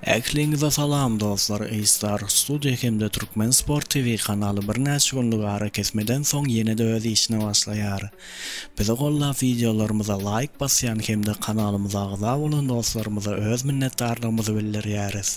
Ähliňize salam dostlar Eýstar studio hemde Türkmen sport TV kanaly birnäçe günlük arakesmeden soň ýenede öz işine başlaýar. Bizi gollap wideolarymyza laýk basýan hemde kanalymyza agza bolan dostlarymyza öz minnetdarlygymyzy bildirýäris.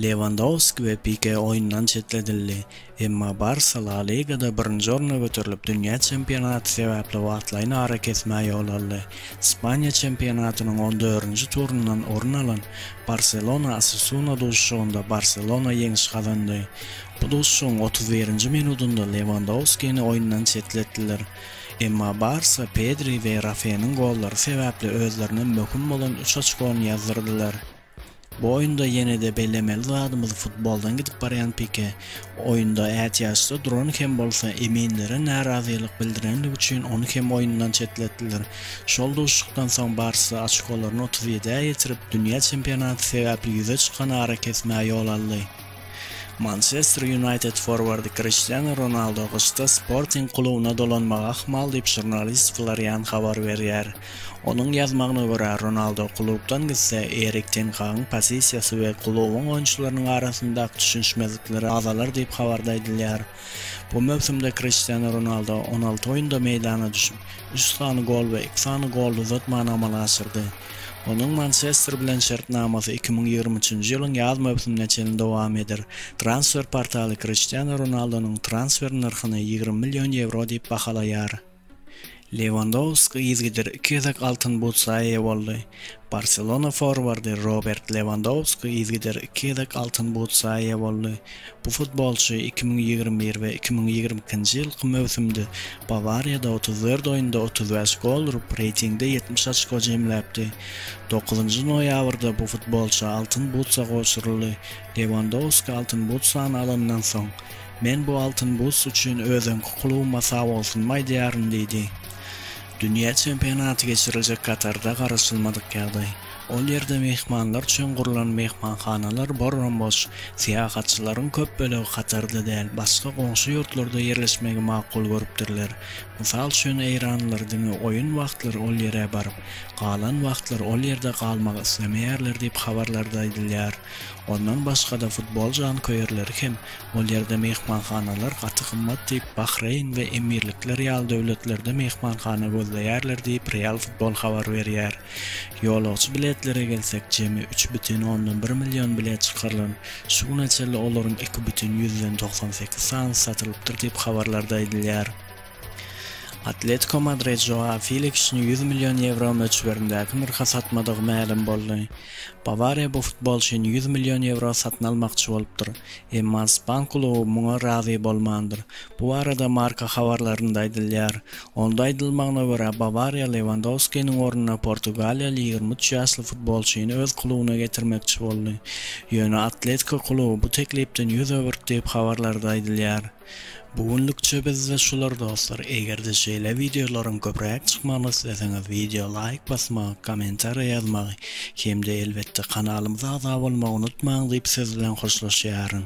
Lewandowski we Pike oýundan çetledildi. Emma Barsa La Ligada birinji orna göterilip, dünýä çempionaty sebäpli wagtlaýyn arakesmä ýol aldy. Ispaniýa çempionatynyň on dördünji turundan orun alan Barselona-Osasuna duşuşygynda Barselona ýeňiş gazandy. Bu duşuşygyň otuz birinji minudynda Lewandowskini oýundan çetletdiler. Emma Barsa Pedri we Rafeniň gollary sebäpli özlerine möhüm bolan üç oçkony ýazdyrdylar. Bu oýunda ýene-de bellemeli zadymyz futboldan gidip barýan Pike oýunda ätiýaçda duran hem bolsa, eminlere närazylyk bildirendigi üçin ony hem oýundan çetletdiler. Şol duşuşykdan soň Barsa oçkolaryny otuz ýedä ýetirip, dünýä çempionaty sebäpli ýüze çykan arakesmä ýol aldy. Mançester Ýunaýted forwardy Kriştianu Ronaldo gyşda Sporting klubyna dolanmagy ahmal diýip, žurnalist Florian habar berýär. Onuň ýazmagyna görä, Ronaldo klubdan gitse, Erik ten Hagyň pozisiýasy we klubuň oýunçylarynyň arasyndaky düşünişmezlikleri azalar diýip, habarda aýdylýar. Bu möwsümde Kriştianu Ronaldo on alty oýunda meýdana düşüp, üç sany gol we iki sany golly uzatmany amala aşyrdy. Onuň Mançester bilen şertnamasy iki müň ýigrimi üçünji ýylyň ýaz möwsümine çenli dowam eder. Transfer portaly Kriştianu Ronaldonyň transfer nyrhyny ýigrimi million ýewro diýip bahalaýar. Lewandowski yzgider iki gezek Altyn butsa eýe boldy. Barselona forwardy Robert Lewandowski yzgider iki gezek Altyn butsa eýe boldy. Bu futbolçy iki müň ýigrimi bir we iki müň ýigrimi ikinji ýylky möwsümde Bawariýada otuz dört oýunda otuz bäş gol urup, reýtingde ýetmiş oçko jemläpdi. Dokuzynjy noýabrda bu futbolça Altyn butsa gowşuryldy. Lewandowski Altyn butsany alandan soň, Men bu altyn bus üçin özüňki klubyma sagbolsun aýdýaryn diýdi. Dünýä çempionaty geçiriljek Katarda garaşylmadyk ýagdaý. Ol ýerde myhmanlar üçin gurlan myhmanhanalar borram-boş. Syýahatçylaryň köp bölegi Katarda däl, başga goňşy ýurtlarda ýerleşmegi makul görüpdirler. Mysal üçin, eýranlylar diňe oýun wagtlary ol ýere baryp, galan wagtlary ol ýerde galmak islemeýärler diýip habarlarda aýdylýar. Ondan başga-da futbol janköýerleri hem Ol ýerde myhmanhanalar gaty gymmat diýip, Bahreýn we Emirlikler ýaly döwletlerde myhmanhana gözleýärler diýip, Real Futbol habar berýär. Ýolagçy biletlere gelsek, jemi üç bütin ondan bir million bilet çykarylan, şu güne çenli olaryň iki bütin ýüzden togsan sekiz sanysy satylypdyr diýip, habarlarda aýdylýar. Atletiko Madrid Joao Feliksini ýüz million ýewro möçberindäki nyrha satmadygy mälim boldy. Bawariýa bu futbolçyny ýüz million ýewro satyn almakçy bolupdyr, emma ispan kluby muňa razy bolmandyr. Bu barada Marca habarlarynda aýdylýar. Onda aýdylmagyna görä, Bawariýa Lewandowskiniň ornuna portugaliýaly ýigrimi üç ýaşly futbolçyny öz klubyna getirmekçi boldy. Ýöne Atletiko kluby bu teklipden ýüz öwürtdi diýip habarlarda aýdylýar. Bu günlükçe bizde şular dostlar egerde şeýle wideolaryň köpräk çykmagyny isleseňiz wideo laýk basmagy kommentariýa ýazmagy hemde elbetde kanalymyza agza bolmagy unutmaň diýip siz bilen hoşlaşýaryn.